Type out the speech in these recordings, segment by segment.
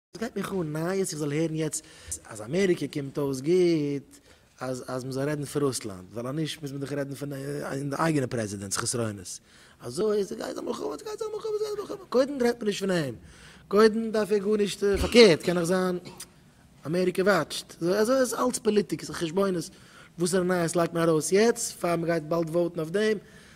וואס גייט מיך אן נייעס איך זאל הערן יעצט אז אמעריקע קומט אויס גוט אז אז מ'זאל רעדן פון רוסלאנד ווייל אז נישט מוז מען דאך רעדן פון אין די אייגענע פרעזידענט'ס חסרונות אזוי איז גייט זיין מלחמה ס'גייט זיין מלחמה ס'גייט זיין מלחמה קודם רעדט מען נישט פון אים קודם דארף ער גארנישט פארקערט קען נאך זיין אמעריקע וואטשט אזוי איז אלץ פאליטיק ס'איז חשבונות וואסערע נייעס לייגט מען ארויס יעצט פאר מ'גייט באלד וואוטן אויף דעם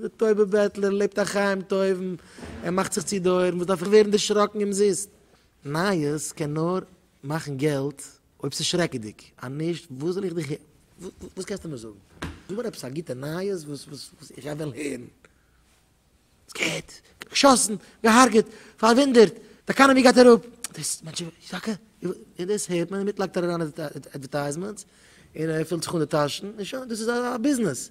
דער טויבער בעטלער לעבט א חיים טויבן, ער מאכט זיך צו די אויערן, וואס דארף איך ווערן דערשראקן אומזיסט? נייעס קען נאר מאכן געלט אויב ס'איז שרעקעדיג, אז נישט וואס זאל איך דיך הערן? וואס קענסטו מיר זאגן? זאג מיר עפעס א גוטע נייעס וואס איך וועל הערן. סקעיט, געשאסן, געהארגעט, פארוואונדערט, די עקאנאמי גייט אראפ, דאס מענטשן ווערן שטארקער, און דאס הערט מען, דערמיט לייגט ער אריין אדווערטייזמענטס און ער פילט זיך אן די טאשן, און שוין, דאס איז א ביזנעס.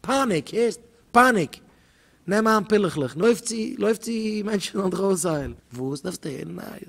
פּאַניק, הערסט? פּאַניק! נעם אײַן פּילעכלעך און לױף צו, לױף צו! מענטשן זאָלן דיך אױסהײלן. װאָס? דאַרפֿסטו הערן נײַעס?